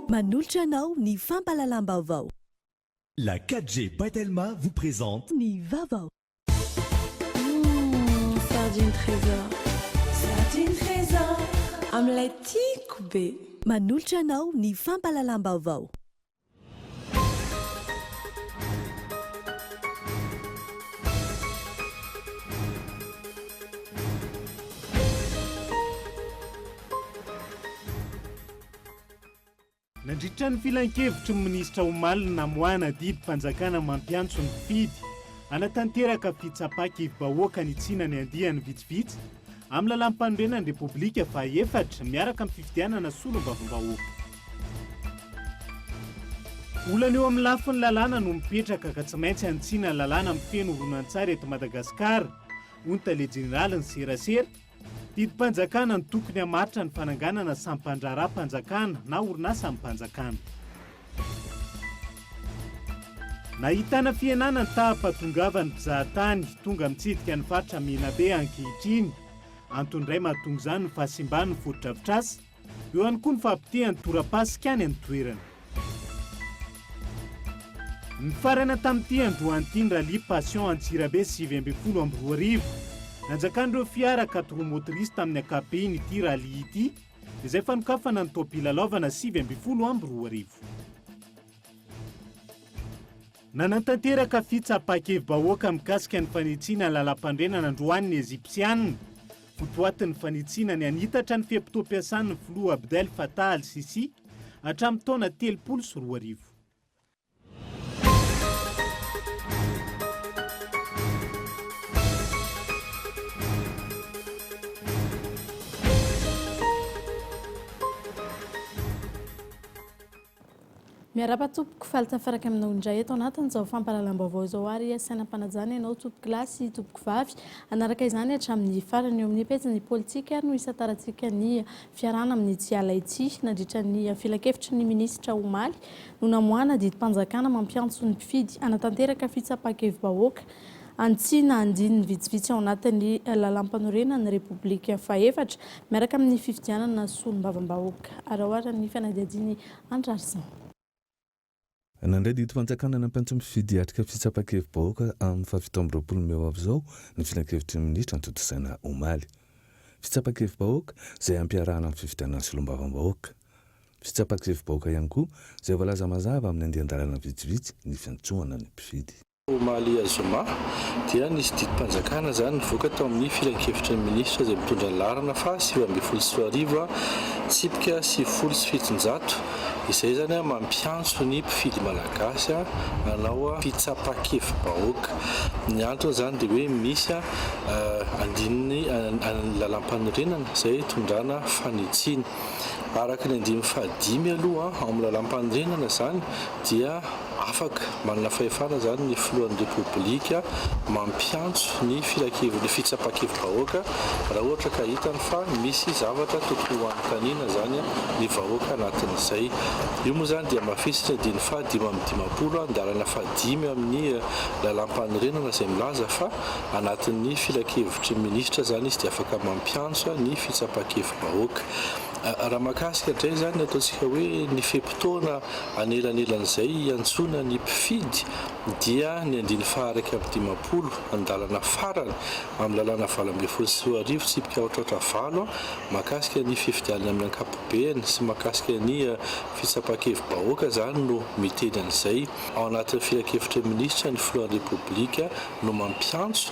Manolotra anao ny fampahalalam-baovao. La 4G by Telma vous présente ny vaovao. Humm sardine tresor, sardine tresor amin'ilay tiako be. Manolotra anao ny fampahalalam-baovao. Nandritra ny filankevitry ny minisitra omaly ny namoahana didim-panjakana mampiantso ny mpifidy hanatanteraka fitsapa-kivi-bahoaka hanitsiana ny andiany vitsivitsy amin'ny lalàm-panorenan'ny Repoblika faha efatra miaraka amin'ny fifidianana solombavambahoaka. Olana eo amin'ny lafiny lalàna no mipetraka ka tsy maintsy hanitsiana ny lalàna mifehy ny horonantsary eto Madagasikara, hoy ny tale jeneralin'ny serasera. Didim-panjakana no tokony hamaritra ny fananganana sampan-draharaham-panjakana na orinasampanjakana. Nahitana fihenana ny taham-pahatongavan'ny mpizahatany tonga mitsidika ny faritra Menabe ankehitriny. Antony iray mahatonga izany ny fahasimban'ny fotodrafitrasa. Eo ihany koa ny fahapotehan'ny tora-pasika any an-toerana. Nifarana tamin'ity androany ity ny Rallye Passion Antsirabe sivy ambin'ny folo amby roa arivo. Nanjakan'ireo fiara quattro motrices tamin'ny ankapobeny ity rallye ity izay fanokafana ny taom-pilalaovana sivy ambin'ny folo amby roa arivo. Nanatanteraka fitsapan-kevi-bahoaka mikasika ny fanitsiana ny lalampandrenana androany ny Ejipsianina. Ho boatin'ny fanitsiana ny hanitatra ny fe-potoam-piasan' ny filoha Abdel Fattah al-Sissi hatramin'ny taona telopolo sy roa arivo. Miarahaba tompoko, faly tafaraka aminao indray eto anatin'izao fampahalalam-baovao izao ary aho, sainam-panajana ianao tompokolahy sy tompokovavy hanaraka izany hatramin'ny farany, eo amin'ny pejin'ny politika no hisantarantsika ny fiarahana amin'ny tsy ala ity, nandritra ny filankevitry ny minisitra omaly no namoahana didim-panjakana mampiantso ny mpifidy hanatanteraka fitsapankevibahoaka Antsy na andininy vitsivitsy ao anatin'ny Lalampanorenan'ny Repoblika fahefatra miaraka amin'ny fifidianana Solombavambahoaka. Araohara ny fanadihadian'i Andry Larison. Nandray didy fanjakana nampiantso ny mpifidy hiatrika fitsapan-kevi-bahoaka amin'ny fahafito amby roapolo mey ho avy izao ny filankevitry ny minisitra notontosaina omaly. Fitsapan-kevi-bahoaka izay ampiarahana amin'ny fifidianana Solombavambahoaka. Fitsapan-kevi-bahoaka ihany koa izay voalaza mazava amin'ny andian-dalàna vitsivitsy ny fiantsoana ny mpifidy. Omaly zoma dia nisy didim-panjakana izany nivoaka tao amin'ny filankevitry ny minisitra izay mitondra ny laharana faha sivy ambin'ny folo sy roa arivo tsipika sivifolo sy fitonjato izay izany mampiantso ny mpifidy malagasy hanao fitsapan-kevi-bahoaka. Ny antony izany dia hoe misy andininy ny lalàmpanorenana izay hitondrana fanitsiana. Araka ny andininy faha dimy aloha ao amin'ny lalàmpanorenana izany dia. Afaka manana fahefana izany ny filohan'ny Repoblika mampiantso ny filankevin'ny fitsapan-kevi-bahoaka raha ohatra ka hitany fa misy zavatra tokony ho anontaniana izany ny vahoaka anatin'izay. Io moa izany dia mafisitra ny diny faha dimy amby dimampolo andalana faha dimy amin'ny lalàmpanorenana izay milaza fa anatin'ny filankevitry ny minisitra izany izy dia afaka mampiantso ny fitsapan-kevi-bahoaka. Raha mahakasika indray izany, ataontsika hoe ny fe-potoana anelanelan'izay hiantsoana ny mpifidy dia ny andininy faha-iraika amby dimampolo, andalana farany amin'ny lalàna valo ambin'ny folo sy roa arivo tsipika aotraotra valo mahakasika ny fifidianana amin'ny ankapobeany sy mahakasika ny fitsapan-kevi-bahoaka izany no miteny an'izay ao anatin'ny filankevitry ny minisitra ny filohan'ny Repoblika no mampiantso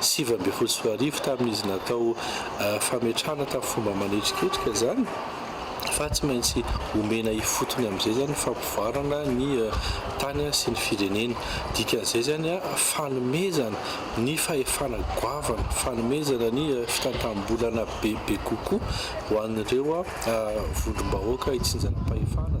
sivy ambin'ny folo sy roa arivo tamin'izy natao fametrahana tamin'ny fomba manetriketrika izany fa tsy maintsy omena ifotony amin'izay izany fampivoarana ny tany sy ny firenena. Dikan'izay izany fanomezana ny fahefana goavana, fanomezana ny fitantam-bolana bebe kokoa ho an'ireo vondrom-bahoaka itsinjaram-pahefana.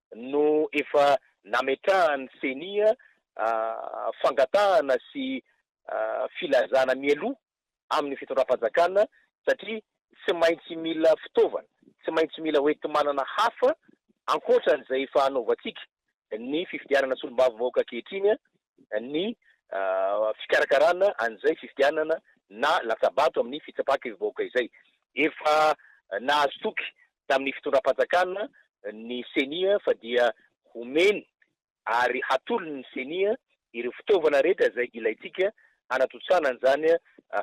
no efa nametrahan'ny Ceni fangatahana sy filazana mialoha amin'ny fitondram-panjakana satria tsy maintsy mila fitaovana, tsy maintsy mila hoenti-manana hafa ankoatra an'izay efa anaovantsika ny fifidianana solombavambahoaka ankehitriny ny fikarakarana an'izay fifidianana na latsabato amin'ny fitsapàkevi-bahoaka izay. Efa nahazo toky tamin'ny fitondram-panjakana ny Ceni fa dia homeny ary hatolony ny Ceni ireo fitaovana rehetra izay ilaintsika hanatontosana an'izany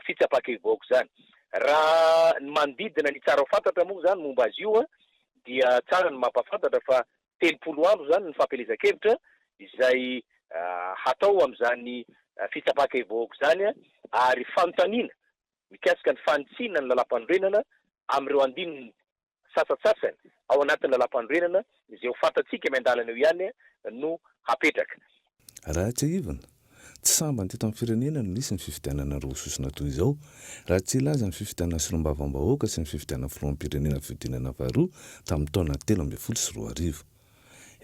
fitsapàkevi-bahoaka izany. Raha ny manodidina ny tsara ho fantatra moa izany momba azy io dia tsara ny mampahafantatra fa telopolo andro izany ny fampielezan-kevitra izay hatao amin'izany fitsapan-kevi-bahoaka izany ary fanontaniana mikasika ny fanitsiana ny lalàmpanorenana amin'ireo andininy sasantsasany ao anatin'ny lalàmpanorenana izay ho fantatsika miandalana eo ihany no hapetraka. Raha tsiahivina, tsy sambany teto amin'ny firenena no nisy ny fifidianana roa sosona toy izao, raha tsy hilaza ny fifidianana solombavambahoaka sy ny fifidianana filoham-pirenena fihodinana faharoa tamin'ny taona telo ambin'ny folo sy roa arivo.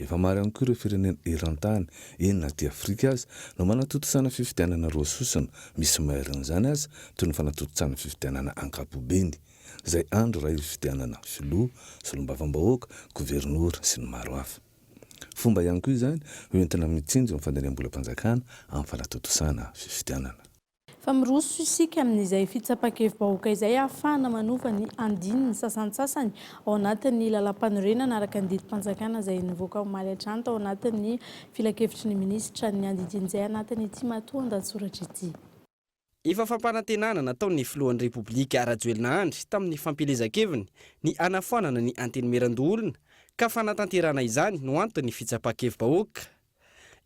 Efa maro ihany koa ireo firenena eran-tany, eny na aty Afrika aza, no manatontosana fifidianana roa sosona, misy mairin'izany aza, toy ny fanatontosana fifidianana ankapobeny, izay andro iray hifidianana filoha, solombavambahoaka, governora, sy ny maro hafa. Fomba ihany koa izany hoentina mitsinjo ny fandaniam-bolam-panjakana amin'ny fanatontosana fifidianana. Fa miroso isika amin'izay fitsapan-kevi-bahoaka izay ahafahana manova ny andininy sasantsasany ao anatin'ny Lalàmpanorenana araka ny didim-panjakana izay nivoaka omaly hatrany tao anatin'ny Filankevitry ny Minisitra niandidiny izay anatin'ity matoandahatsoratra ity. Efa fampanantenana nataon'ny Filohan'ny Repoblika Rajoelina Andry tamin'ny fampielezan-keviny ny hanafoanana ny Antenimierandoholona ka fanatanterahana izany no anton'ny fitsapan-kevi-bahoaka.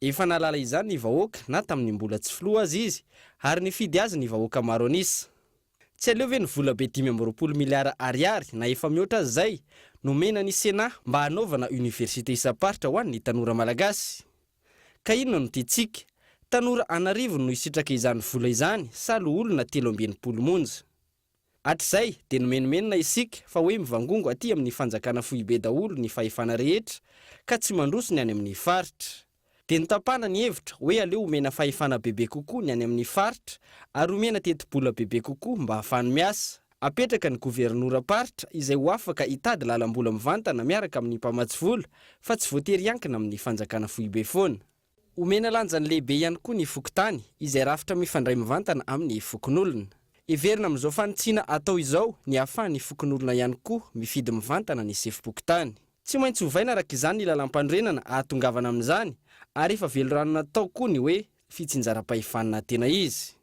Efa nahalala izany ny vahoaka na tamin'ny mbola tsy Filoha aza izy ary nifidy azy ny vahoaka maro an'isa. Tsy aleo ve ny volabe dimy amby roapolo miliara ariary na efa mihoatra aza izay nomena ny Sénat mba hanaovana Université isam-paritra ho an'ny tanora malagasy? Ka inona no tiantsika? Tanora an'arivony no hisitraka izany vola izany sa loholona telo amby enimpolo monja? Hatrizay dia nomenomenona isika fa hoe mivangongo aty amin'ny fanjakana foibe daholo ny fahefana rehetra ka tsy mandroso ny any amin'ny faritra. Dia notapahana ny hevitra hoe aleo omena fahefana bebe kokoa ny any amin'ny faritra ary omena tetibola bebe kokoa mba hahafany miasa. Apetraka ny governoram-paritra izay ho afaka hitady lalam-bola mivantana miaraka amin'ny mpamatsy vola fa tsy voatery hiankina amin'ny fanjakana foibe foana. Omena lanjany lehibe ihany koa ny fokontany izay rafitra mifandray mivantana amin'ny fokonolona. Heverina amin'izao fanitsiana atao izao ny hahafahan'ny fokonolona ihany koa mifidy mivantana ny sefom-pokontany. Tsy maintsy ovaina araka izany ny lalàmpanorenana hahatongavana amin'izany ary efa velorano natao koa ny hoe fitsinjaram-pahefana tena izy.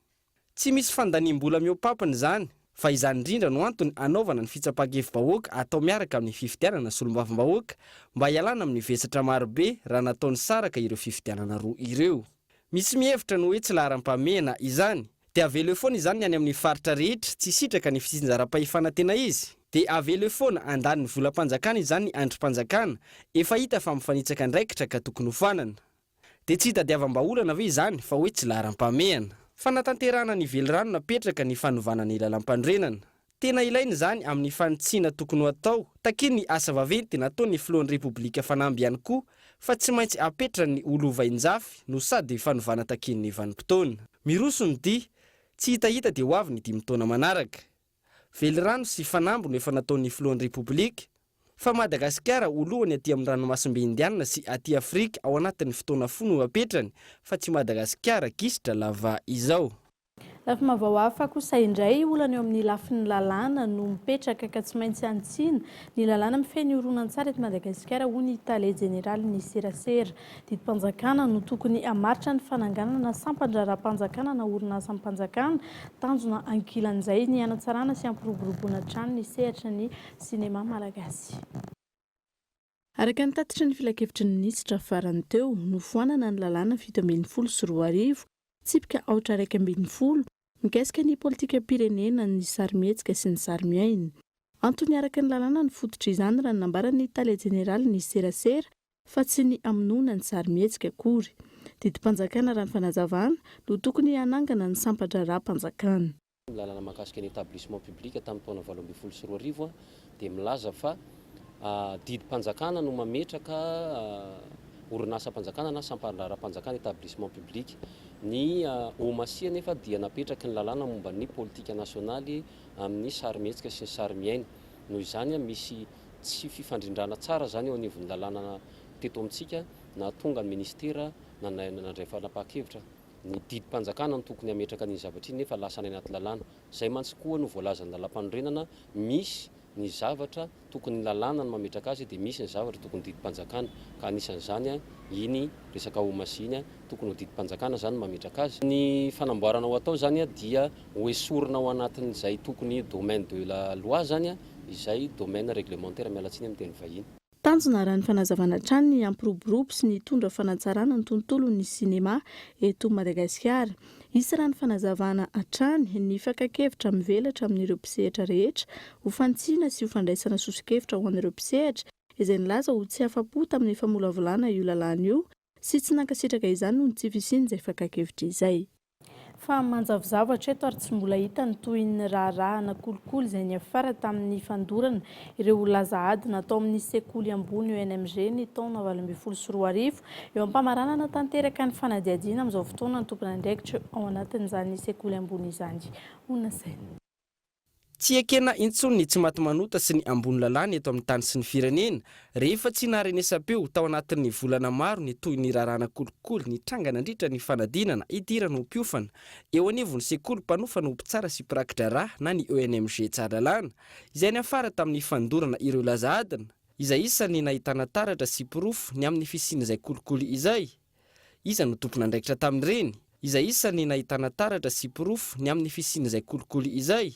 Tsy misy fandaniam-bola mihoa-pampina izany fa izany indrindra no antony anaovana ny fitsapan-kevi-bahoaka atao miaraka amin'ny fifidianana solombavambahoaka mba hialana amin'ny vesatra marobe raha natao nisaraka ireo fifidianana roa ireo. Misy mihevitra ny hoe tsy laharam-pahamehana izany. Dia avelo eo foana izany ny any amin'ny faritra rehetra tsy sitraka ny fitsinjaram-pahefana tena izy? Dia avelo eo foana handany ny volam-panjakana izany ny andrim-panjakana efa hita fa mifanitsaka andraikitra ka tokony hofanana? Dia tsy hitadiavam-bahaolana ve izany fa hoe tsy laharam-pahamehana? Fanatanterahana ny velirano napetraka ny fanovana ny lalampanorenana. Tena ilaina izany amin'ny fanitsiana tokony ho atao, takian' ny asa vaventy nataon' ny filohan'ny Repoblika fanamby ihany koa fa tsy maintsy apetra ny ho lovain-jafy no sady fanovana takian'ny vanim-potoana. Miroso ny dihy, tsy hitahita dia ho avy ny dimy taona manaraka. velirano sy fanamby no efa nataon'ny filohan'ny Repoblika fa Madagasikara ho lohany aty amin'ny ranomasimbe Indianina sy aty Afrika ao anatin'ny fotoana fohy no hapetrany fa tsy Madagasikara gisitra lava izao. Lafim-baovao hafa kosa indray, olana eo amin'ny lafiny lalàna no mipetraka ka tsy maintsy hanitsiana ny lalàna mifehy ny horonantsary eto Madagasikara hoy ny tale jeneralin'ny serasera Didim-panjakana no tokony hamaritra ny fananganana sampan-draharaham-panjakana na orinasam-panjakana. Tanjona ankilan'izay ny hanatsarana sy hampiroboroboana hatrany ny sehatry ny sinema malagasy. Araka ny tatitry ny filankevitry ny minisitra farany teo, nofoanana ny lalàna fito ambin'ny folo sy roa arivo, tsipika aotra iraika ambin'ny folo, mikasika ny politikam-pirenena ny sarimihetsika sy ny sarimiaina. Antony araka ny lalàna ny fototr'izany, raha ny nambaran'ny tale jeneralin'ny serasera, fa tsy ny hamonoana ny sarimihetsika akory. Didim-panjakana raha ny fanazavana no tokony hanangana ny sampan-draharaham-panjakana. Ny lalàna mahakasika ny Etablissement public tamin'ny taona valo ambin'ny folo sy roa arivo dia milaza fa didim-panjakana no mametraka orinasam-panjakana na sampan-draharaham-panjakana, Etablissement public. Ny OMASI anefa dia napetraky ny lalàna momba ny politika nasionaly amin'ny sarimihetsika sy ny sarimiaina. Noho izany, misy tsy fifandrindrana tsara izany eo anivon'ny lalàna teto amintsika nahatonga ny minisitera nandray fanapahan-kevitra ny didim-panjakana ny tokony hametraka an'iny zavatra iny nefa lasa any anaty lalàna. Izay mantsy koa no voalazan'ny lalàmpanorenana, misy ny zavatra tokony ny lalàna no mametraka azy dia misy ny zavatra tokony didim-panjakana ka anisan'izany iny resaka Homasy iny, tokony ho didim-panjakana izany no mametraka azy. Ny fanamboarana ho atao izany dia hoesorina ao anatin'izay tokony domaine de la loi izany izay domaine réglementaire miala tsiny amin'ny teny vahiny. Tanjona raha ny fanazavana hatrany ny hampiroborobo sy ny hitondra fanatsarana ny tontolon'ny sinema eto Madagasikara. Hisy raha ny fanazavana hatrany ny fakan-kevitra mivelatra amin'ireo mpisehatra rehetra ho fantsihina sy ho fandraisana soso-kevitra ho an'ireo mpisehatra izay nilaza ho tsy afa-po tamin'ny famolavolana io lalàna io Sy tsy nankasitraka izany noho ny tsy fisian'izay fakan-kevitra izay. Fa manjavozavotra eto ary tsy mbola hita ny tohin'ny raharaha nakolikoly izay niafara tamin'ny fandorana ireo ho laza ady natao amin'ny sekoly ambony ENMG ny taona valo ambin'ny folo sy roa arivo eo am-pamaranana tanteraka ny fanadihadiana amin'izao fotoana ny tompon'andraikitra ao anatin'izany sekoly ambony izany ho nasaina Tsy ekena intsony ny tsimatimanota sy ny ambony lalàna eto amin'ny tany sy ny firenena, rehefa tsy naharenesam-peo tao anatin'ny volana maro ny tohin'ny raharahanà kolikoly nitranga nandritra ny fanadinana hidirana ho mpiofana eo anivon'ny sekoly mpanofana ho mpitsara sy mpiraki-draharaha na ny ENMG Tsaralalàna, izay niafara tamin'ny fandorana ireo laza adina, izay isan'ny nahitana taratra sy porofo ny amin'ny fisian'izay kolikoly izay. Iza no tompon'andraikitra tamin'ireny? Iza isa ny nahitana taratra sy porofo ny amin'ny fisian'izay kolikoly izay?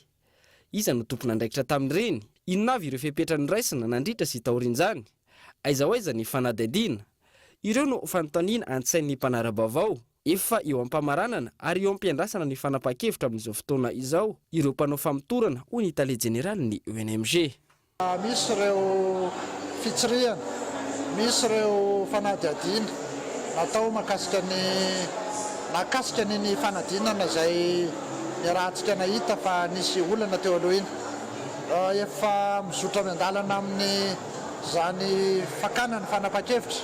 Iza no tompon'andraikitra tamin'ireny? Inona avy ireo fepetra noraisina nandritra sy taorian'izany? Aiza ho aiza ny fanadihadiana? Ireo no fanontaniana an-tsain'ny mpanara-baovao. Efa eo am-pamaranana ary eo am-piandrasana ny fanapahan-kevitra amin'izao fotoana izao ireo mpanao famotorana, hoy ny tale jeneralin'ny ONMG. Misy ireo fitsirihana, misy ireo fanadihadiana natao mahakasika ny mahakasika ny ny fanadinana izay niarahantsika nahita fa nisy olana teo aloha iny. Efa mizotra miandalana amin'izany fakana ny fanapahan-kevitra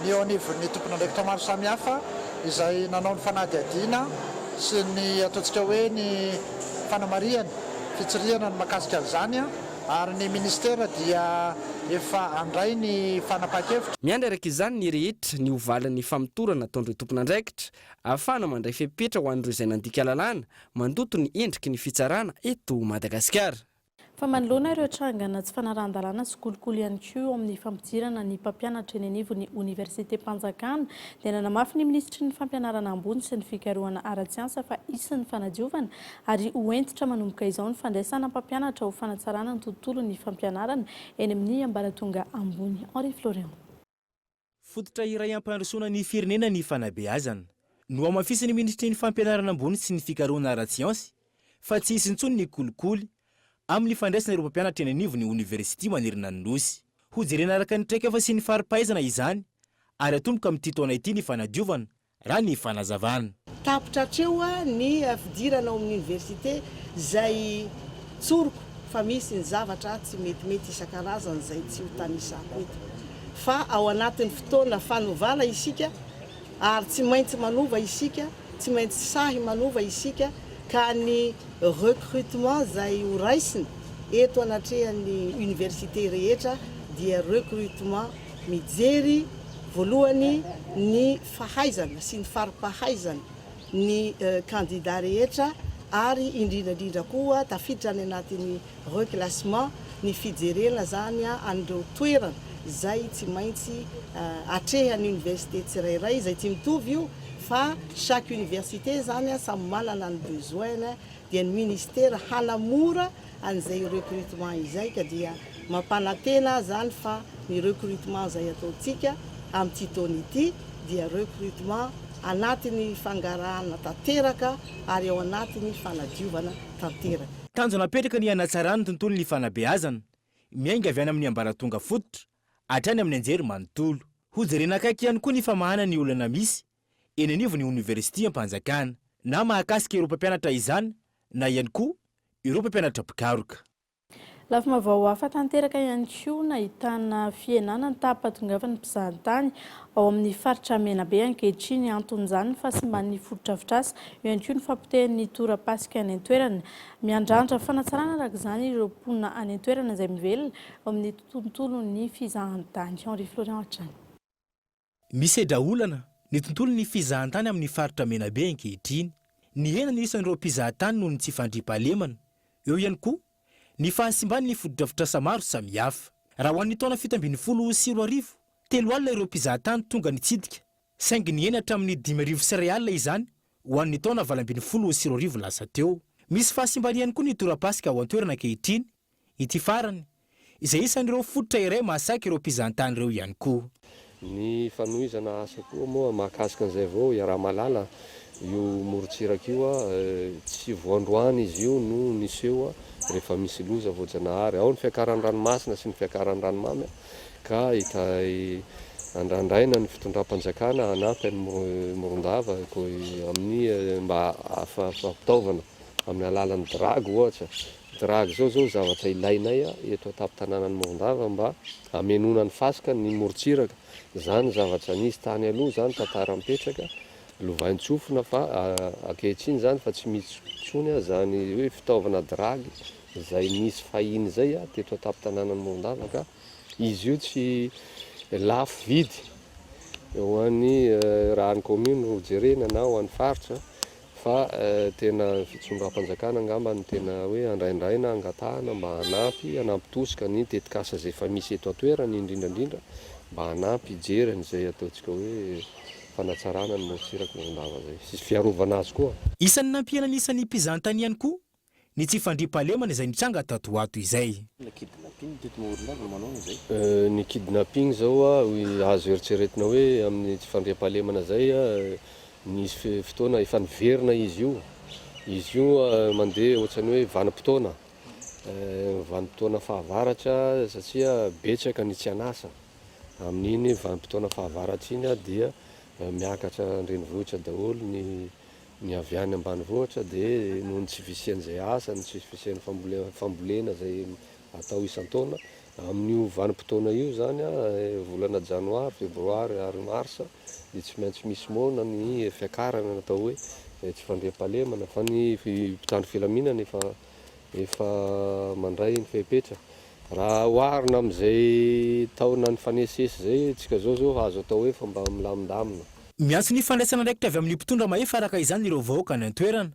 ny eo anivon'ny tompon'andraikitra maro samihafa izay nanao ny fanadihadiana sy ny ataontsika hoe ny fanamarihana. fitsirihana ny makasika an'izany ary ny ministera dia efa handray ny fanapahan-kevitra. Miandry araka izany ny rehetra ny ho valin'ny famotorana nataon'ireo tompon'andraikitra ahafahana mandray fepetra ho an'ireo izay nandika lalàna mandoto ny endriky ny fitsarana eto Madagasikara. Fa manoloana ireo trangana tsy fanarahan-dalàna sy kolikoly ihany koa eo amin'ny fampidirana ny mpampianatra eny anivon'ny oniversitem-panjakana dia nanamafy ny minisitry ny fampianarana ambony sy ny fikarohana ara-tsiansa fa hisy ny fanadiovana ary ho hentitra manomboka izao ny fandraisana mpampianatra ho fanatsarana ny tontolon'ny fampianarana eny amin'ny ambaratonga ambony Henri Florian. Fototra iray hampandrosoana ny firenena ny fanabeazana. Nohamafisin'ny minisitry ny Fampianarana ambony sy ny fikarohana ara-tsiansy fa tsy hisy intsony ny kolikoly amin'ny fandraisana ireo mpampianatra eny anivon'ny oniversity manerana ny Nosy. Hojerena araka ny traikefa sy ny fari-pahaizana izany ary atomboka amin'ity taona ity ny fanadiovana raha ny fanazavana. Tapitra hatreo ny fidirana ao amin'ny oniversite izay tsoriko fa misy ny zavatra tsy metimety isan-karazany izay tsy hotanisako eto. Fa ao anatin'ny fotoana fanovana isika ary tsy maintsy manova isika, tsy maintsy sahy manova isika ka ny recrutement izay horaisina eto anatrehan'ny oniversite rehetra dia recrutement mijery Voalohany, ny fahaizana sy ny fari-pahaizana ny kandida rehetra ary indrindra indrindra koa tafiditra any anatin'ny reclassement ny fijerena izany an'ireo toerana izay tsy maintsy atrehan'ny université tsirairay izay tsy mitovy io fa chaque université izany samy manana ny besoin-ny dia ny ministera hanamora an'izay recrutement izay ka dia mampanantena aho izany fa ny recrutement izay ataontsika amin'ity taona ity dia recrutement anatin'ny fangarahana tanteraka ary ao anatin'ny fanadiovana tanteraka. Tanjona apetraka ny hanatsarana ny tontolon'ny fanabeazana, miainga avy any amin'ny ambaratonga fototra hatrany amin'ny anjery manontolo. Hojerena akaiky ihany koa ny famahana ny olana misy eny anivon'ny oniversitiam-panjakana, na mahakasika ireo mpampianatra izany na ihany koa ireo mpampianatra mpikaroka. Lafim-baovao hafa tanteraka ihany koa nahitana fihenana ny taham-pahatongavan'ny mpizahantany ao amin'ny faritra Menabe ankehitriny. Anton'izany ny fahasimban'ny fotodrafitrasa, eo ihany koa ny fahapotehan'ny tora-pasika any an-toerana. Miandrandra fanatsarana araka izany ireo mponina any an-toerana izay mivelona eo amin'ny tontolon'ny fizahantany. Henri Florian hatrany. Misedra olana ny tontolon'ny fizahantany amin'ny faritra Menabe ankehitriny. Nihena ny isan'ireo mpizaha tany noho ny tsy fandriampahalemana. Eo ihany koa ny fahasimban'ny fotodrafitrasa maro samihafa. Raha ho an'ny taona fito ambin'ny folo sy roa arivo, telo alina ireo mpizaha tany tonga nitsidika, saingy nihena hatramin'ny dimy arivo sy iray alina izany ho an'ny taona valo ambin'ny folo sy roa arivo lasa teo. Misy fahasimbana ihany koa ny tora-pasika ao an-toerana ankehitriny. Ity farany, izay isan'ireo fototra iray mahasaiky ireo mpizahantany ireo ihany koa. Ny fanohizana asa koa moa mahakasika an'izay vao iaraha-mahalala io morontsiraka io. Tsy vao androany izy io no niseho rehefa misy loza voajanahary. Ao ny fiakaran'ny ranomasina sy ny fiakaran'ny ranomamy ka andrandraina ny fitondram-panjakana hanampy an'i Morondava amin'ny mba hahafahan'ny fitaovana amin'ny alalan'ny drago ohatra Drag izao izao zavatra ilainay eto an-tampon-tananan'i Morondava mba hamenoana ny fasika ny morontsiraka. Izany zavatra nisy tany aloha izany, tantara mipetraka, lovain-tsofina fa ankehitriny izany fa tsy misy intsony izany hoe fitaovana drag izay nisy fahiny izay teto an-tampon-tananan'i Morondava ka izy io tsy lafo vidy ho an'ny, raha ny commune no jerena na ho an'ny faritra. Fa tena ny fitondram-panjakana angamba no tena hoe andraindraina, angatahana mba hanampy, hanampy tosika ny tetikasa izay efa misy eto an-toerana indrindra indrindra mba hanampy hijery an'izay ataontsika hoe fanatsarana ny morontsirak'i Morondava izay sy fiarovana azy koa. Isan'ny nampihenana isan'ny mpizahatany ihany koa ny tsy fandriampahalemana izay nitranga tato ho ato izay. Ny kidnapping izao azo eritreretina hoe amin'ny tsy fandriampahalemana izay, nisy fotoana efa niverina izy io, izy io mandeha ohatran'ny hoe vanim-potoana, vanim-potoana fahavaratra satria betsaka ny tsy an'asa, amin'iny vanim-potoana fahavaratra iny dia miakatra an-drenivohitra daholo ny Ny avy any ambanivohitra dia noho ny tsy fisian'izay asa, ny tsy fisian'ny fambolena fambolena izay atao isan-taona, amin'io vanim-potoana io izany, volana janoary, febroary ary marsa, dia tsy maintsy misy moana ny fiakarana, natao hoe tsy fandriampahalemana fa ny mpitandro filaminana efa efa mandray ny fepetra. Raha oharina amin'izay taona nifanesisesy izay tsika izao zao azo atao hoe fa mba milamindamina. Miantso ny fandraisana andraikitra avy amin'ny mpitondra mahefa araka izany ireo vahoaka any an-toerana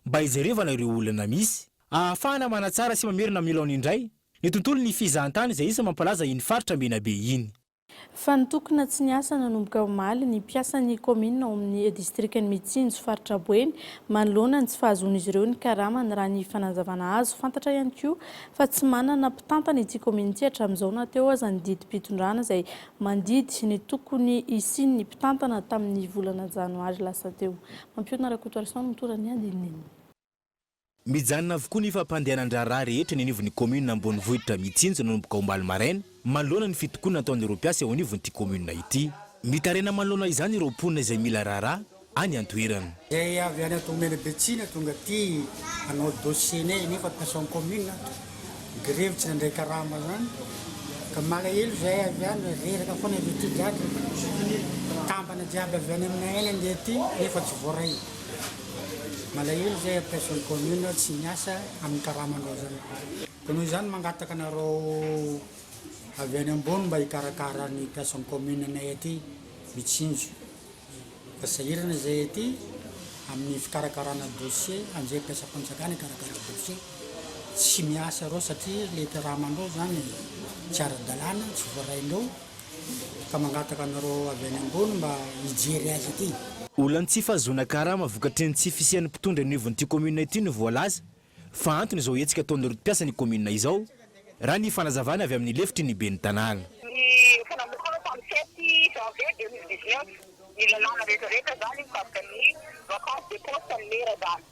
mba hijerevana ireo olana misy, ahafahana manatsara sy mamerina amin'ny laony indray ny tontolon'ny fizahantany izay isan'ny mampalaza iny faritra Menabe iny. Fa nitokona tsy niasa nanomboka omaly ny mpiasan'ny kaominina ao amin'ny distrikan'i Mitsinjo faritra Boeny manoloana ny tsy fahazoan'izy ireo ny karamany raha ny fanazavana azo. Fantatra ihany koa fa tsy manana mpitantana ity kaominina ity hatramin'izao na teo aza ny didim-pitondrana izay mandidy ny tokony hisian'ny mpitantana tamin'ny volana janoary lasa teo. Mampionona Rakotoarison mitondra ny andinindininy. Mijanona avokoa ny fampandehanan-draharaha rehetra eny anivon'ny kaominina ambonivohitra Mitsinjo nanomboka omaly maraina, manoloana ny fitokonana ataon'ireo mpiasa eo anivon'ity kaominina ity. Mitaraina manoloana izany ireo mponina izay mila raharaha any an-toerana. Izay avy any Antohomena Betsina tonga aty hanao dossier-nay nefa mpiasa ao an-kaominina ato, grevy tsy nandray karama izany ka malahelo izahay avy any, reraka foana avy aty jiaby, mpitambana jiaby avy any aminay any handeha aty nefa tsy voaray. Malahelo izay mpiasa ny commune tsy miasa amin'ny karama anareo izany. Koa noho izany mangataka anareo avy any ambony mba hikarakara ny mpiasa ny commune anay aty mitsinjo fa sahirana izay aty amin'ny fikarakarana dossier anjery mpiasam-panjakana hikarakara dossier tsy miasa ireo satria ilay karama anareo izany tsy ara-dalàna tsy voarain'ireo ka mangataka anareo avy any ambony mba hijery azy ity. Olan'ny tsy fahazoana karama vokatry ny tsy fisian'ny mpitondra anivon'ity kaominina ity no voalaza fa antony izao hetsika ataon'ireo mpiasa ny kaominina izao, raha ny fanazavana avy amin'ny lefitry ny ben'ny tanàna. Ny efa namorona tamin'ny sept janvier deux mille dix-neuf ny lalàna rehetra rehetra izany mikasika ny vacance de poste ny maire izany.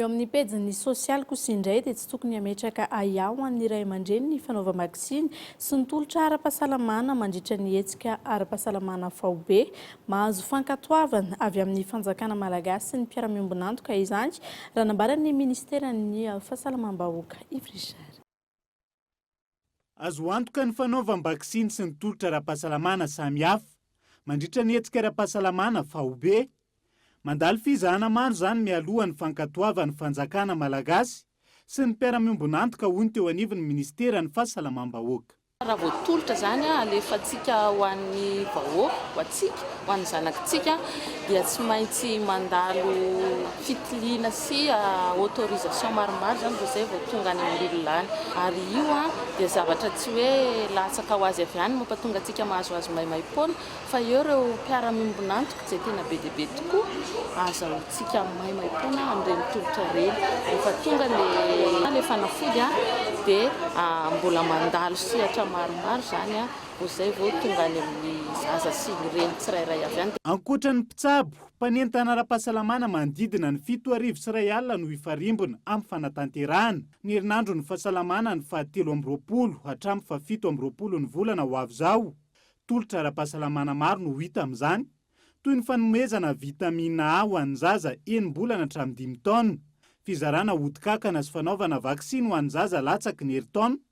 Eo amin'ny pejin'ny sosialy kosa indray dia tsy tokony hametraka ahiahy ho an'ny ray aman-dreny ny fanaovam-baksiny sy ny tolotra ara-pahasalamana mandritra ny hetsika ara-pahasalamana faobe. Mahazo fankatoavana avy amin'ny fanjakana malagasy sy ny mpiara-miombon'antoka izany, raha nambaran'ny minisiteran'ny Fahasalamam-bahoaka, Yves Richard. Azo antoka ny fanaovam-baksiny sy ny tolotra ara-pahasalamana samihafa mandritra ny hetsika ara-pahasalamana faobe. Mandalo fizahana maro izany mialoha ny fankatoavan'ny fanjakana malagasy sy ny mpiara-miombon'antoka, hoy ny teo anivon'ny minisiteran'ny Fahasalamam-bahoaka. Raha voatolotra izany, alefantsika ho an'ny vahoaka, ho antsika, Ho an'ny zanakitsika dia tsy maintsy mandalo fitiliana sy autorisation maromaro izany vao izay vao tonga any amin'ny olona any. Ary io dia zavatra tsy hoe latsaka ho azy avy any no mampatonga antsika mahazoazo maimaim-poana fa eo ireo mpiara-miombon'antoka izay tena be dia be tokoa ahazahoantsika maimaim-poana amin'ireny tolotra ireny. Rehefa tonga ilay ilay fanafody dia mbola mandalo sehatra maromaro izany Vao izay vao tonga any amin'ny zaza sy ny reny tsirairay avy any. Ankoatra ny mpitsabo, mpanentana ara-pahasalamana manodidina ny fito arivo sy iray alina no hifarimbona amin'ny fanatanterahana ny herinandron'ny fahasalamana ny faha telo amby roapolo hatramin'ny faha fito amby roapolo ny volana ho avy izao. Tolotra ara-pahasalamana maro no hita amin'izany, toy ny fanomezana vitamina A ho an'ny zaza enim-bolana hatramin'ny dimy taona, fizarana ody kankana sy fanaovana vaksiny ho an'ny zaza latsaky ny herintaona.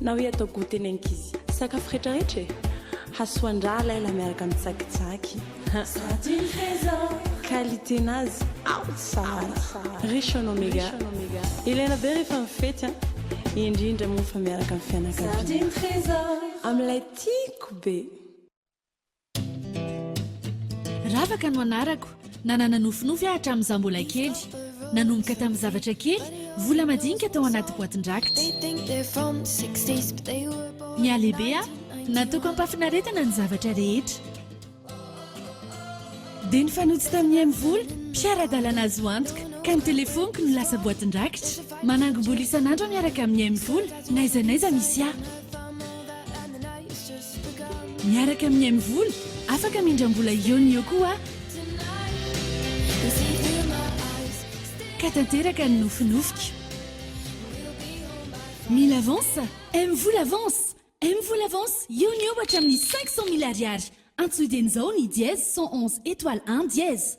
Na hoe atao goûter ny ankizy. Sakafo retraretra e! Hasoan-draha laila miaraka amin'ny tsakitsaky. Qualité-nazy ao tsara. Riche en oméga. Ilaina be rehefa mifety an! Indrindra moa fa miaraka amin'ny fianakaviana. Amin'ilay tiako be. Ravaka no anarako. Nanana nofinofy aho hatramin'izaho mbola kely. Nanomboka tamin'ny zavatra kely, vola madinika tao anaty boatin-drakitra. Nihalehibe aho. Nataoko am-pahafinaretana ny zavatra rehetra. Dia nifanojo tamin'i M. Vola, mpiara-dalana azo antoka, ka ny telefoniko no lasa boatin-drakitra. Manangom-bola isan'andro aho miaraka amin'i M. Vola, n'aiza n'aiza misy ahy. Miaraka amin'ny Mvola, afaka mindram-bola eo no eo koa ka tanteraka ny nofinofiko. Mila avance? Mvola avance! Mvola avance eo no eo hatramin'ny cinq cent mille Ariary. Antsoy dieny izao ny dièse cent onze étoile un dièse.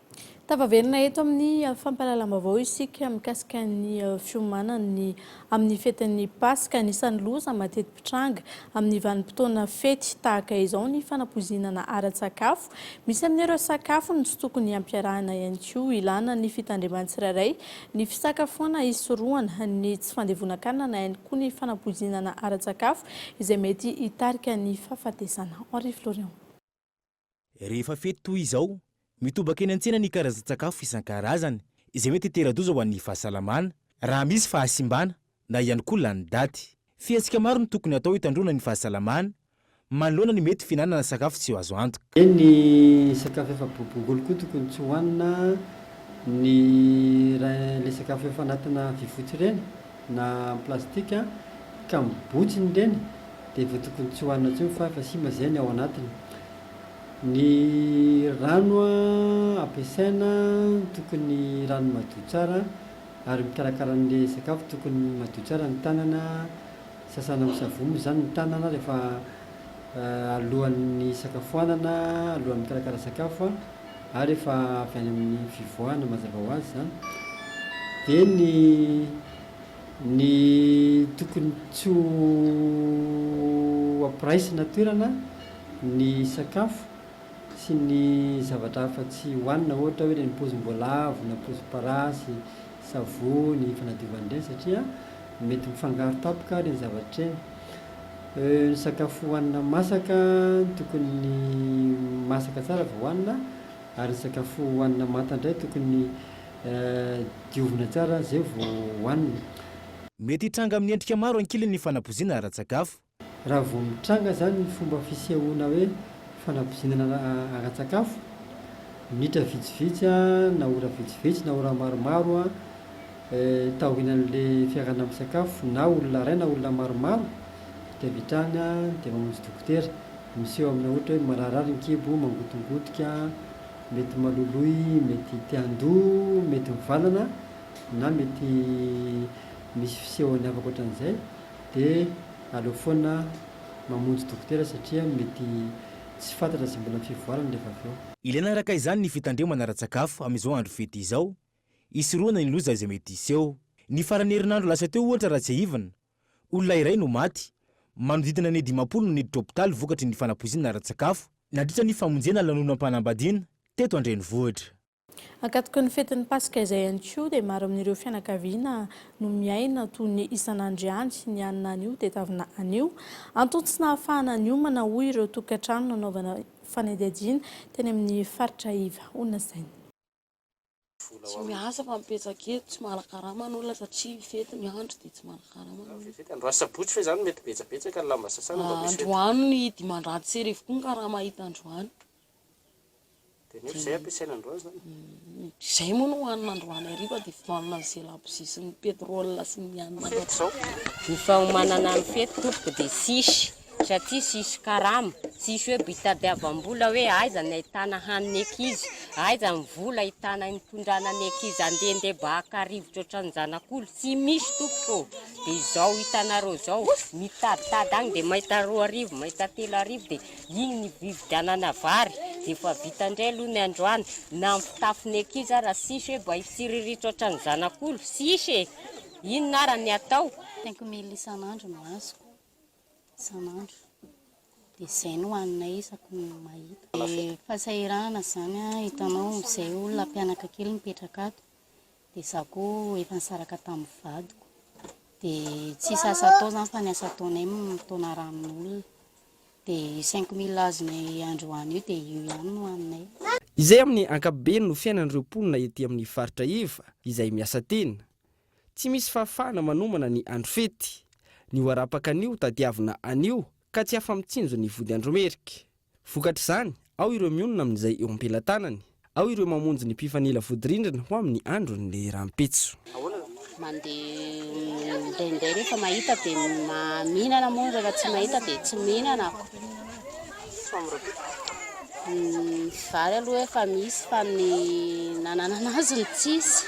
Tafaverina eto amin'ny fampahalalam-baovao isika mikasika ny fiomanan'ny amin'ny fetin'ny Paska. Anisan'ny loza mateti-pitranga amin'ny vanim-potoana fety tahaka izao ny fanapoizinana ara-tsakafo. Misy amin'ireo sakafo no tsy tokony hampiarahana ihany koa. Ilana ny fitandreman'ny tsirairay ny fisakafoana hisorohana ny tsy fandevonan-kanina na ihany koa ny fanapoizinana ara-tsakafo izay mety hitarika ny fahafatesana. Henri Florian. Rehefa fety toy izao, mitobaka eny an-tsena ny karazan-tsakafo isan-karazany izay mety hitera-doza ho an'ny fahasalamana raha misy fahasimbana na ihany koa lany daty. Fihetsika maro no tokony hatao hitandroana ny fahasalamana manoloana ny mety fihinanana sakafo tsy azo antoka. Eny, ny sakafo efa bobongolo koa tokony tsy hohanina, ny ireny sakafo efa anatina vy fotsy ireny. na amin'ny plastika ka mibotsy ny reny dia efa tokony tsy hohanina intsony fa efa simba izay ny ao anatiny. Ny rano ampiasaina tokony rano madio tsara ary mikarakara an'ilay sakafo tokony madio tsara ny tanana, sasana amin'ny savony moa izany ny tanana rehefa alohan'ny hisakafoanana, alohan'ny mikarakara sakafo. ary efa avy any amin'ny fivoahana mazava ho azy izany, dia ny ny tokony tsy ho ampiraisina toerana ny sakafo sy ny zavatra hafa tsy hohanina ohatra hoe ireny pozim-boalavo na pozim-parasy, savony fanadiovana ireny satria mety mifangaro tampoka ireny zavatra ireny. Ny sakafo hohanina masaka tokony masaka tsara vao hohanina ary ny sakafo hohanina manta indray tokony diovina tsara izay vao hohanina. Mety hitranga amin'ny endrika maro ankilany ny fanabozina ara-tsakafo. Raha vao mitranga izany ny fomba fisehoana hoe fanabozina ara-tsakafo, minitra vitsivitsy na ora vitsivitsy na ora maromaro, taorian'le fiarahana misakafo na olona iray na olona maromaro de avy hatrany de mamonjy dokotera, miseho amina ohatra hoe mararirary ny kibo, mangotongotika, mety maloloy, mety te handoa, mety mivalana na mety misy fisehony hafa akoatran'izay de aleo foana mamonjy dokotera satria mety tsy fantatra izay mbola fivoarany rehefa avy eo. Ilaina araka izany ny fitandremana ara-tsakafo amin'izao andro fety izao hisorohana ny loza izay mety hiseho. Ny faran'ny herinandro lasa teo ohatra raha tsiahivina, olona iray no maty, manodidina ny dimampolo no niditra hopitaly vokatry ny fanapoizinana ara-tsakafo, nandritra ny famonjena lanonam-panambadiana teto an-drenivohitra. Ankatoky ny fetin'ny Paska izay ihany koa dia maro amin'ireo fianakaviana no miaina toy ny isan'andro ihany ny anona anio tedavina anio. Antony tsy nahafahana niomana hoy ireo tokantrano nanaovana fanadihadiana teny amin'ny faritra iva honasaina. Tsy miasa fa mipetraka eto, tsy manakarama ny olona satria mifety ny andro dia tsy manakarama ny olona. Fety androany sabotsy ve izany mety betsabetsaka ny lamba sasana mba misy fety? Androany ny dimanjato sy arivo koa ny karama hita androany. Dia nefa izay ampiasaina androany izany? Izay moa no hohanina androany hariva dia fidohanana izay labozia sy ny pétrole sy ny hanina. Fety izao? Ny fahomanana ny fety tompoko dia tsisy. satria tsisy karama, tsisy hoe bitadiavam-bola hoe aiza ny ahitana hany ny ankizy, aiza ny vola ahitana hitondrana ny ankizy handehandeha mba haka rivotra ohatran'ny zanak'olo, tsy misy tompoko ô! dia izao hitanareo izao, mitaditady any dia mahita roa arivo, mahita telo arivo dia iny ny hividianana vary, dia efa vita indray aloha ny androany, na ny fitafy ny ankizy ara tsisy hoe mba hitsiriritra ohatran'ny zanak'olo, tsisy e! inona ara ny atao? Cinq mille isan'andro no azoko. isan'andro dia izay no haninay isaky ny mahita. Dia fahasahiranana izany hitanao izay olona mpianaka kely mipetraka ato dia izaho koa efa nisaraka tamin'ny vadiko dia tsisy asa atao izany fa ny asa ataonay mitaona rano ny olona dia io cinq mille azonay androany io dia io ihany no haninay. Izay amin'ny ankapobeny no fiainan'ireo mponina ety amin'ny faritra Iva izay miasa tena. Tsy misy fahafahana manomana ny andro fety. Ny ho arapaka an'io tadiavina anio ka tsy afa-mitsinjo ny vody andro merika. Vokatr'izany, ao ireo mionona amin'izay eo am-pelatanany, ao ireo mamonjy ny mpifanila vodirindrina ho amin'ny andron'ny rahampitso. Mandeha midainday rehefa mahita dia mihinana moa rehefa tsy mahita dia tsy mihinana ako. Ny vary aloha efa misy fa ny nananana azy no tsisy.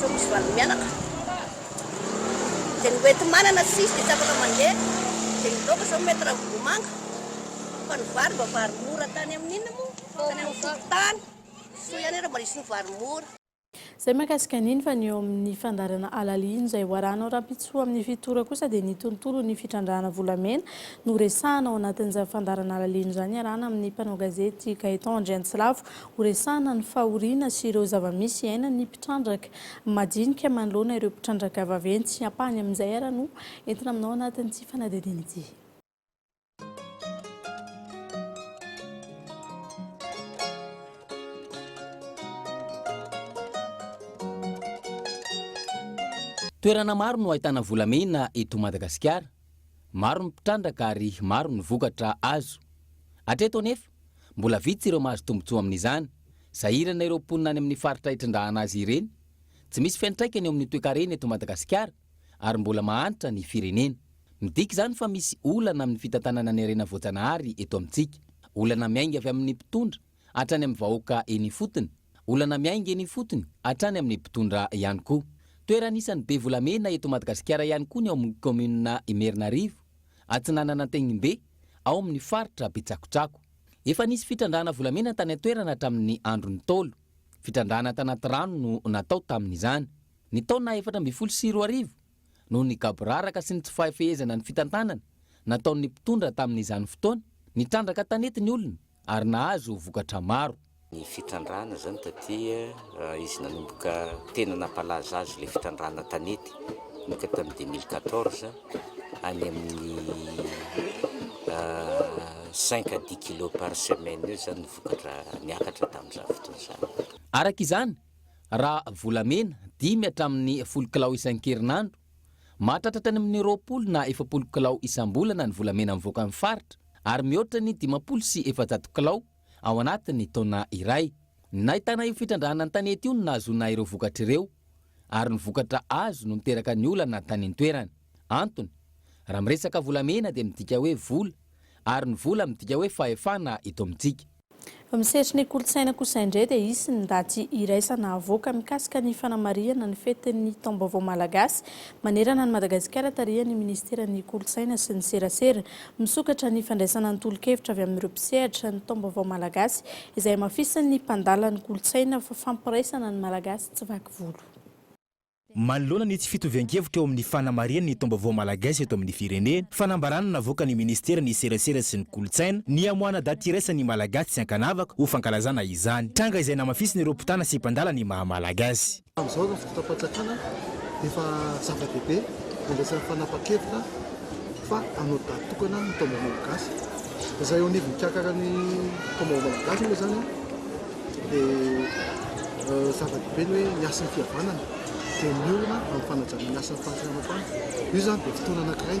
Nosy Vanimianaka, dia ny hoenti-manana tsy misy dia tsy afaka mandeha, dia ny laoka izao mety ravim-bomanga, fa ny vary mba vary mora tany amin'ny inona moa? tany amin'ny fokontany, soa ihany ary mba nisy ny vary mora. Izay mahakasika an'iny fa ny eo amin'ny fandaharana halal iny izay ho arahanao rahampitso amin'ny fitora kosa dia ny tontolon'ny fitrandrahana volamena no resahana ao anatin'izany fandaharana halal iny izany iarahana amin'ny mpanao gazety Gaëtan Andriantsilavo Horesahana ny fahoriana sy ireo zava-misy iainan'ny mpitrandraka majinika manoloana ireo mpitrandraka vaventy sy ampahany amin'izay ara no entina aminao anatin'ity fanadihadiana ity. Toerana maro no ahitana volamena eto Madagasikara. Maro ny mpitrandraka ary maro ny vokatra azo. Hatreto anefa, Mbola vitsy ireo mahazo tombontsoa amin'izany. Sahirana ireo mponina any amin'ny faritra itrandrahana azy ireny. Tsy misy fiantraikany eo amin'ny toekarena eto Madagasikara ary mbola mahantra ny firenena. Midika izany fa misy olana amin'ny fitantanana ny harena voajanahary eto amintsika. Olana miainga avy amin'ny mpitondra hatrany amin'ny vahoaka eny ifotony. Olana miainga eny ifotony hatrany amin'ny mpitondra ihany koa. Toerana anisan'ny be volamena eto Madagasikara ihany koa ny ao amin'ny kaominina Imerinarivo, atsinanan'Antenimbe. ao amin'ny faritra Betsakotsako. Efa nisy fitrandrahana volamena tany an-toerana hatramin'ny andron'ny Ntaolo. Fitrandrahana tanaty rano no natao tamin'izany. Ny taona efatra ambin'ny folo sy roa arivo, noho ny gaboraraka sy ny tsy fahefehezana ny fitantanana nataon'ny mpitondra tamin'izany fotoana, nitrandraka tanety ny olona ary nahazo vokatra maro. Ny fitrandrahana izany taty raha izy nanomboka tena nampalaza azy ilay fitrandrahana tanety nanomboka tamin'ny deux mille quatorze any amin'ny cinq à dix kilos par semaine eo izany ny vokatra niakatra tamin'izany fotoana izany. Araka izany, raha volamena, dimy hatramin'ny folo kilao isan-kerinandro, mahatratratra any amin'ny roapolo na efapolo kilao isam-bolana ny volamena mivoaka amin'ny faritra ary mihoatra ny dimampolo sy efajato kilao ao anatin'ny taona iray. Nahitana io fitrandrahana ny tanety io no nahazoana ireo vokatra ireo ary ny vokatra azo no niteraka ny olana tany an-toerana. Antony, raha miresaka volamena dia midika hoe vola ary ny vola midika hoe fahefana eto amintsika. Amin'ny sehatrin'ny kolontsaina kosa indray dia hisy ny daty iraisana havoaka mikasika ny fanamarihana ny fetin'ny taom-baovao malagasy manerana an'i Madagasikara tarihan'ny minisiteran'ny kolontsaina sy ny serasera. Misokatra ny fandraisana ny tolo-kevitra avy amin'ireo mpisehatra ny Taombaovao Malagasy izay hamafisin'ny mpandala ny kolontsaina fa fampiraisana ny Malagasy tsy vaky volo. Manoloana ny tsy fitovian-kevitra eo amin'ny fanamarihana ny Taombaovao Malagasy eto amin'ny firenena, fanambarana navoakan'ny Ministeran'ny Serasera sy ny Kolontsaina ny hamoahana daty iraisan'ny Malagasy tsy ankanavaka ho fankalazana izany tranga izay namafisin'ireo mpitana sy mpandala ny maha-Malagasy. Amin'izao ny fotoam-panjakana dia efa zava-dehibe ny resaka fanapan-kevitra fa hanao daty tokana ny taom-baovao malagasy. Izay eo anivon'ny mpiakaran'ny taom-baovao malagasy moa izany dia zava-dehibe ny hoe ny hasin'ny fihavanana dia miorina amin'ny fanajana ny hasin'ny fahasalamam-panahy. Io izany dia fotoana anankiray.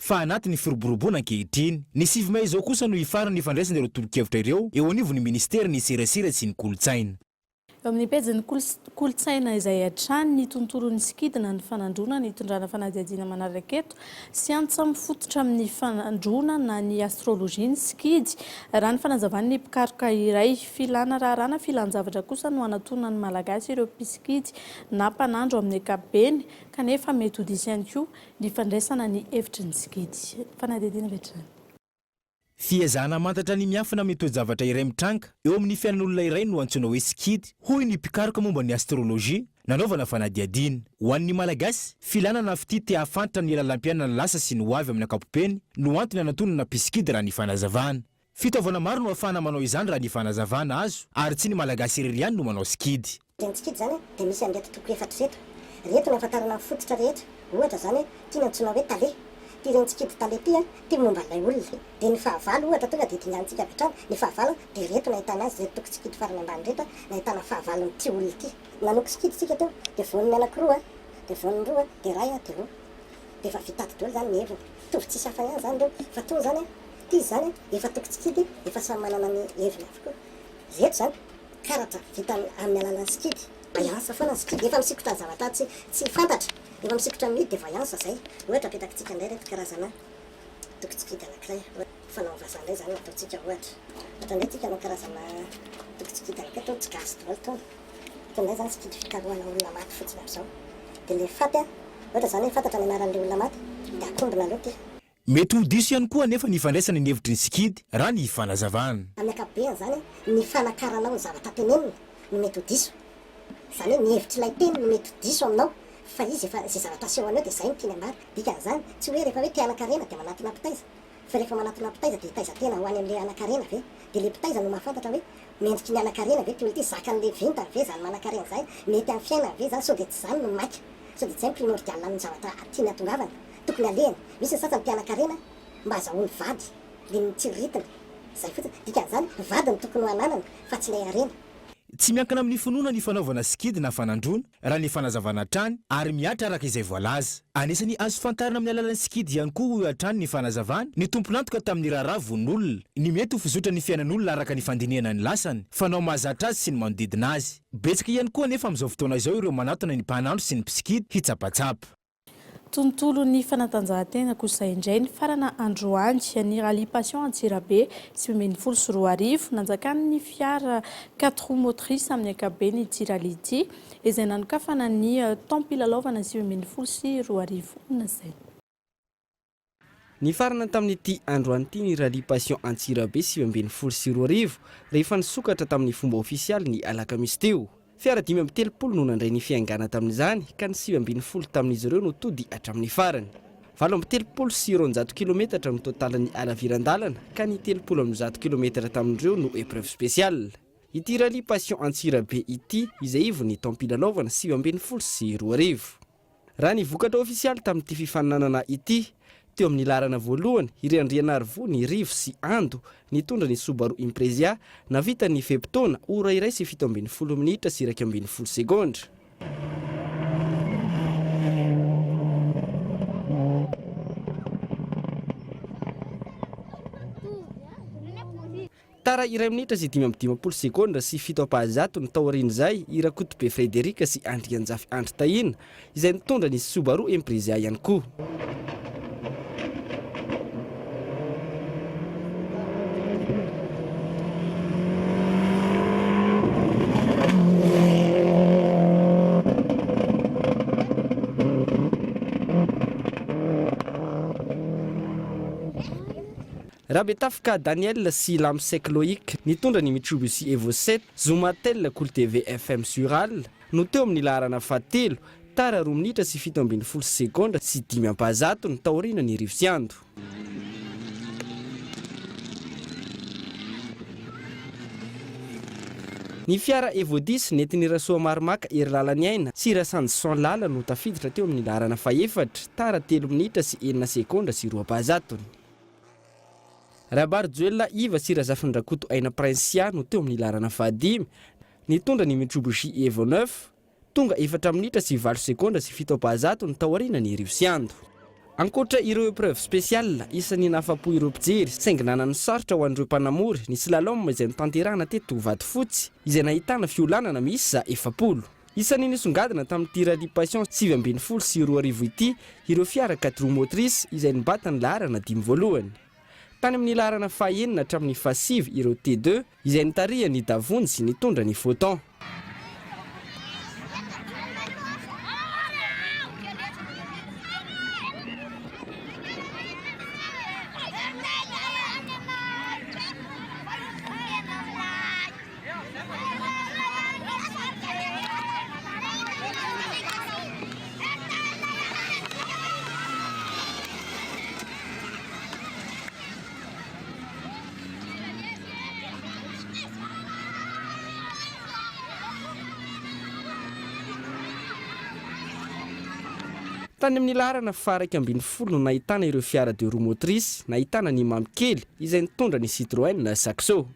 fa anaty ny firoboroboana ankehitriny. Ny sivy mey izao kosa no hifarana hifandraisana ireo tolo-kevitra ireo eo anivon'ny Minisitera ny serasera sy ny kolontsaina. Eo amin'ny pejin'ny kolontsaina izay hatrany ny tontolon'ny sikidina ny fanandroana ny hitondrana fanadihadiana manaraka eto sy antsa mifototra amin'ny fanandroana na ny astrologie ny sikidy raha ny fanazavan'ny mpikaroka iray. Filana raharahana filan-javatra kosa no anatonan'ny Malagasy ireo mpisikidy na mpanandro amin'ny ankapobeny kanefa mety ho diso ihany koa Ny fandraisana ny hevitry ny tsikidy. Fanadihadiana avy hatrany. Fiezahana hamantatra ny miafina amin'ny toe-javatra iray mitranga eo amin'ny fiainan'olona iray no antsoina hoe sikidy, hoy ny mpikaroka momba ny astrolojia nanaovana fanadihadiana. Ho an'ny Malagasy, filàna na fitia te hahafantatra ny lalam-piainan'ny lasa sy ny hoavy amin'ny ankapobeny no antony anantonana mpisikidy raha ny fanazavana. Fitaovana maro no afahana manao izany raha ny fanazavana azo ary tsy ny Malagasy irery ihany no manao sikidy. Dia ny tsikidy izany dia misy an'ireto toko efatra ireto. Ireto no ahafantarana ny fototra rehetra, ohatra izany hoe ity no antsoina hoe tale. Ity ireny tsikidy tale ity dia momba an'ilay olona. Dia ny fahavalo ohatra tonga dia dinganintsika avy hatrany ny fahavalo dia ireto no ahitana azy, ireto toko tsikidy farany ambany ireto no ahitana fahavalon'ity olona ity. Nanoko sikidy isika eto dia voan'ny anankiroa dia voan'ny roa dia iray dia roa dia efa vita ato daholo izany ny heviny. Mitovy tsisy hafa ihany izany ireo fa tony izany Ity izany an, efa toko tsikidy, efa samy manana ny heviny avokoa. Ireto izany, karatra vita amin'ny alalan'ny sikidy. Voyance foana ny sikidy, efa misikotra zavatra tsy tsy fantatra, efa misikotra ny mihidy dia voyance izay. Ohatra apetakitsika indray ireto karazana toko tsikidy anankiray, ohatra fanaon'ny vazaha indray izany no ataontsika ohatra. Ohatra indray isika hanao karazana toko tsikidy anankiray, itony tsy gasy daholo itony. Ohatra indray izany sikidy fikarohana olona maty fotsiny amin'izao. Dia ilay faty an, ohatra izany hoe fantatra ny anaran'ilay olona maty dia akombona aloha ity. Mety ho diso ihany koa anefa ny ifandraisana ny hevitry ny sikidy raha ny fanazavana. Amin'ny ankapobeny izany, ny fanakaranao ny zavatra tenenina no mety ho diso. Izany hoe ny hevitr'ilay teny no mety ho diso aminao fa izy efa izay zavatra asehony eo dia izay no tiany ambara. Dikan'izany, tsy hoe rehefa hoe te hanan-karena dia manatona mpitaiza. Fa rehefa manatona mpitaiza dia hitaiza tena ho any amin'ilay hanan-karena ve? Dia ilay mpitaiza no mahafantatra hoe mendriky ny hanan-karena ve ity olona ity? Zakan'ilay vintany ve izany manan-karena izany? Mety amin'ny fiainany ve izany? Sao dia tsy izany no maika? Sao dia tsy izay no primordial amin'ny zavatra tiany hahatongavana? Tokony alehany misy ny sasany mpianakarena mba hazahoany vady dia ny tsiriritiny. Izay fotsiny. Dikan'izany, vady no tokony ho ananany fa tsy ilay harena. Tsy miankina amin'ny finoana ny fanaovana sikidy na fanandroana, raha ny fanazavana hatrany, ary mihatra araka izay voalaza. Anisan'ny azo fantarina amin'ny alalan'ny sikidy ihany koa hoy hatrany ny fanazavany ny tompon'antoka tamin'ny raharaha vononolona, ny mety ho fizotran'ny fiainan'olona araka ny fandinihana ny lasany, fanao mahazatra azy sy ny manodidina azy. Betsaka ihany koa anefa amin'izao fotoana izao ireo manatona ny mpanandro sy ny mpisikidy hitsapatsapa. Tontolon'ny fanatanjahantena kosa indray, nifarana androany ny Rallye Passion Antsirabe sivy ambin'ny folo sy roa arivo. Nanjakan'ny fiara quatre roues motrices amin'ny ankapobeny ity rallye ity, izay nanokafana ny taom-pilalaovana sivy ambin'ny folo sy roa arivo nasaina. Nifarana tamin'ity androany ity ny Rallye Passion Antsirabe sivy ambin'ny folo sy roa arivo, rehefa nisokatra tamin'ny fomba ofisialy ny alakamisy teo. Fiara dimy amby telopolo no nandray ny fiaingàna tamin'izany, ka ny sivy ambin'ny folo tamin'izy ireo no tody hatramin'ny farany. Valo amby telopolo sy roanjato kilometatra no totalin'ny halaviran-dàlana, ka ny telopolo amby zato kilometatra tamin'ireo no épreuve spéciale. Ity Rallye Passion Antsirabe ity, izay ivon'ny taom-pilalaovana sivy ambin'ny folo sy roa arivo. Raha ny vokatra ofisialy tamin'ity fifaninanana ity, teo amin'ny laharana voalohany i Randrianarivo Nirivo sy Ando nitondra ny Subaru Imprezia navitan'ny fe-potoana ora iray sy fito ambin'ny folo minitra sy iraika ambin'ny folo segondra. Tara iray minitra sy dimy amby dimampolo segondra sy fito ampahazatony taorian'izay i Rakotobe Frederic sy Andrianjafy Andry Tahina izay nitondra ny Subaru Impreza ihany koa. Rabetafika Daniel sy Lamsek Loïc, nitondra ny Mitsubishi Evo sept, zoma tel Cool TV FM sur Al, no teo amin'ny laharana fahatelo, tara roa minitra sy fito ambin'ny folo sy segondra sy dimy ampahazatony, taorianan'ny rivotsiando. Ny fiara Evo dix, nentin'i Rasoamaromaka Hery Lalaniaina sy Rasanjison Lala no tafiditra teo amin'ny laharana fahefatra, tara telo minitra sy enina segondra sy roa ampahazatony. Rabarijoelina Iva sy Razafindrakoto Aina Princia no teo amin'ny laharana fahadimy, nitondra ny Mitsubishi Evo neuf. Tonga efatra minitra sy valo segondra sy fito ampahazato ny tao aorianan'i Riosiando. Ankoatra ireo épreuves spéciales, isan'ny nahafa-po ireo mpijery saingy nanano sarotra ho an'ireo mpanamory ny slalom izay notanterahina teto Vatofotsy, izay nahitana fiolanana miisa efapolo. Isan'ny nisongadina tamin'ity Rallye Passion sivy ambin'ny folo sy roa arivo ity ireo fiara quatre roues motrices izay nibata ny laharana dimy voalohany. Tany amin'ny laharana fahenina hatramin'ny fahasivy ireo T-deux izay nitarihan'i Davony sy nitondra ny Photon. Tany amin'ny laharana faha-iraika ambin'ny folo no nahitana ireo fiara deux roues motrices nahitana ny Mamy Kely izay nitondra ny Citroën Saxo.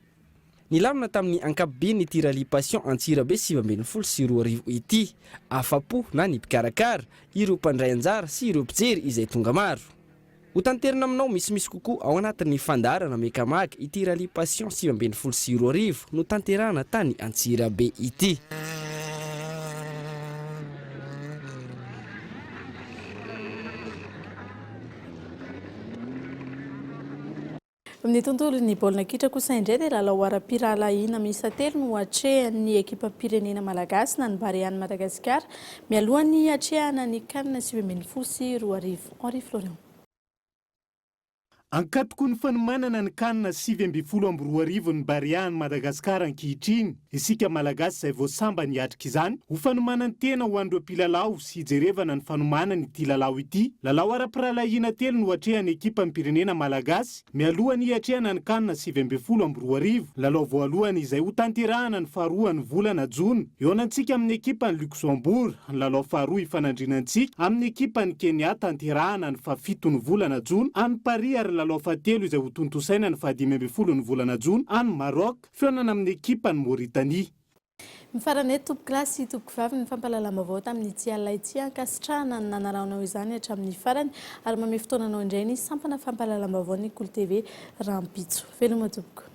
Nilamina tamin'ny ankapobeny ity Rallye Passion Antsirabe sivy ambin'ny folo sy roa arivo ity. Afa-po na ny mpikarakara, ireo mpandray anjara sy ireo mpijery izay tonga maro. Ho tanterina aminao misimisy kokoa ao anatin'ny fandaharana Mecamag ity Rallye Passion sivy ambin'ny folo sy roa arivo notanterahana tany Antsirabe ity. Ny tontolon'ny baolina kitra kosa indray dia lalao ara-pirahalahiana miisa telo no atrehan'ny ekipam-pirenena malagasy na ny Barean'i Madagasikara mialohan'ny hiatrehana ny Can sivy ambin'ny folo sy roa arivo. Henri Florian. Ankatoky ny fanomanana ny Can sivy ambin'ny folo amby roa arivo ny Barean'i Madagasikara ankehitriny. Isika Malagasy izay vao sambany hiatrika izany ho fanomanan-tena ho an'ireo mpilalao sy hijerevana ny fanomanany ity lalao ity. Lalao ara-pirahalahiana telo no atrehan'ny ekipam-pirenena Malagasy mialoha ny hiatrehana ny Can sivy ambin'ny folo amby roa arivo. Lalao voalohany izay hotanterahana ny faharoa ny volana jona hihaonantsika amin'ny ekipan'i Luxembourg, ny lalao faharoa hifanandrinana antsika amin'ny ekipan'i Kenya tanterahana ny fahafito ny volana jona any Paris ary ny lalao fahatelo izay hotontosaina ny fahadimy ambin'ny folo ny volana jona any Maroc. Fihaonana amin'ny ekipa an'i Mauritanie. Mifarana eto tompoko lahy sy tompoko vavy ny fampahalalam-baovao tamin'ity alina ity. Ankasitrahana ny nanarahanao izany hatramin'ny farany ary mamehy fotoananao indray ny sampana fampahalalam-baovaon'ny Kolo TV rahampitso. Veloma tompoko.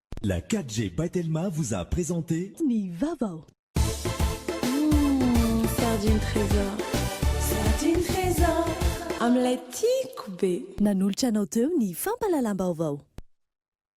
La 4G by Telma vous a présenté. Ny vaovao. Hum, sardine trésor. Sardine trésor. Amin'ilay tiako be. Nanolotra anao teo ny fampahalalam-baovao.